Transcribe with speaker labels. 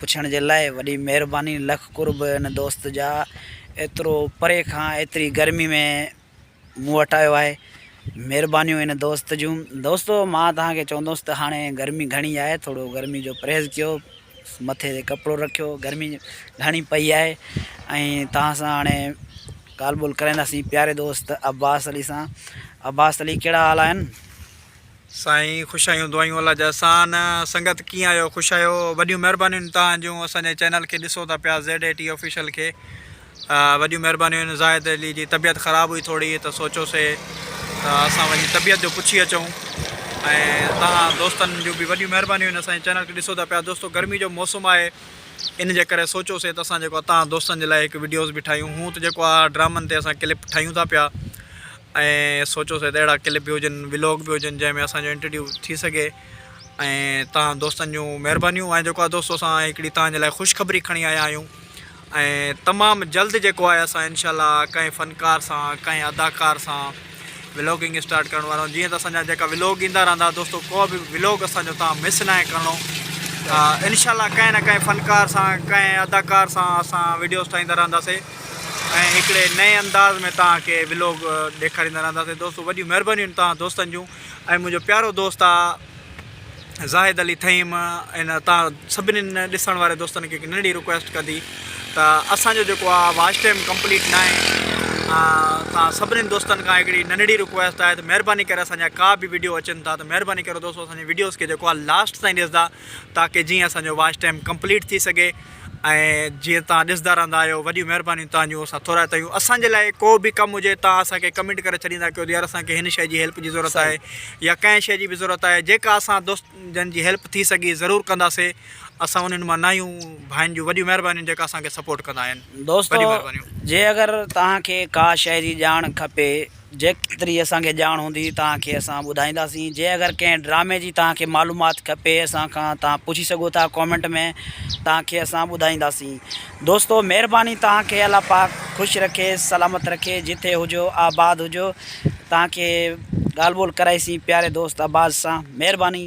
Speaker 1: پڇڻ جي لاء وڏي مهرباني لک قرب ان دوست جا ايترو پري کان ايتري گرمي ۾ مون وٽ آيو آهي مهربانيون ان دوست جون دوستو مان توهان کي چوندوس ته هاڻي گرمي گهڻي آهي ٿورو گرمي جو پرهيز ڪيو مٿي تي ڪپڙو رکيو گرمي گهڻي پئي آهي ۽ توهان سان هاڻي ڳالهه ٻولهه ڪرائينداسين پياري دوست عباس علي سان عباس علي ڪهڙا حال آهن سائين
Speaker 2: خوش آهيون دعايون الله جا احسان سنگت ڪيئن آهيو خوش آهيو وڏيون مهربانيون توهان جون اسان جي چينل کي ڏسو ٿا پيا زيڊ اي ٽي آفيشل کي وڏيون مهربانيون آهن زاهد علي جي طبيعت خراب هئي ٿوري ته سوچوسي ته اسان وڃي طبيعت جو پڇي اچون ۽ توهان دوستن جون به وڏيون مهربانيون آهن اسان جي چينل کي ڏسو ٿا پيا دوستو گرمي جو موسم آهي ان جي ڪري سوچوسي ته اسان جيڪو توهان دوستن جي لاء هڪ وڊيوز به ٺاهيون هون ته جيڪو آ ڊرامن تي اسان ڪلپ ٺاهيون ٿا پيا ۽ سوچيو سهي ته اهڙا ڪلپ به هجن ولاگ به هجن جنهن ۾ اسان جو انٽرويو ٿي سگهي ۽ تهان دوستن جون مهربانيون ۽ جيڪو آهي دوستو اسان هڪڙي تهان جي لاء خوشخبري کڻي آيا آهيون ۽ تمام جلد جيڪو آهي اسان انشاء الله ڪنهن فنڪار سان ڪنهن اداڪار سان ولاگنگ اسٽارٽ ڪرڻ وارا جيئن ته اسان جا جيڪا ولاگ ايندا رهندا دوستو ڪو به ولاگ اسان جو تهان مس نه آهي ڪرڻو انشاء الله ڪنهن نه ڪنهن فنڪار سان ڪنهن اداڪار سان اسان ويڊيوز ٺاهيندا رهنداسي ۽ هڪڙي نئين انداز ۾ توهان کي ولوگ ڏيکاريندا رهنداسين دوستو وڏيون مهربانيون توهان دوستن جون ۽ منهنجو پيارو دوست آ زاهد علي ٿهيم ان توهان سڀنين ڏسڻ واري دوستن کي هڪ ننڍي رڪويسٽ ڪندي ته اسان جو جيڪو آ واش ٽائيم ڪمپليٽ نه آهي توهان سڀنين دوستن کان هڪڙي ننڍي رڪويسٽ آهي ته مهرباني ڪري اسان جا ڪا به ويڊيو اچن ٿا ته مهرباني ڪريو دوستو اسان جي ويڊيوز کي جيڪو آ لاسٽ تائين ڏسدا تاڪي جيئن اسان جو واش ٽائيم ڪمپليٽ ٿي سگهي ۽ جيئن توهان ڏسندا رهندا آهيو وڏيون مهربانيون توهان جون اسان ٿورائتا آهيون اسان جي لاء ڪو به ڪم هجي توهان اسان کي ڪمينٽ ڪري ڇڏيندا ڪيو ته يار اسان کي هن شئي جي هيلپ جي ضرورت آهي يا ڪنهن شئي جي به ضرورت آهي جيڪا اسان دوست جن جي هيلپ ٿي سگهي ضرور ڪنداسي اسان انهن مان ناهيون ڀائين جون وڏيون مهربانيون جيڪا اسان کي سپورٽ ڪندا آهن دوستو جي
Speaker 1: اگر توهان کي ڪا شئي جي ڄاڻ کپي جيڪيتري اسان کي ڄاڻ هوندي توهان کي اسان ٻڌائينداسين جي اگر ڪنهن ڊرامي جي توهان کي معلومات کپي اسان کان توهان پڇي سگهو ٿا ڪامينٽ ۾ توهان کي اسان ٻڌائينداسين دوستو مهرباني توهان کي الله پاڪ خوش رکي سلامت رکي جتي هجو آباد هجو توهان کي ڳالهه ٻولهه ڪرائيسين پياري دوست عباس سان مهرباني.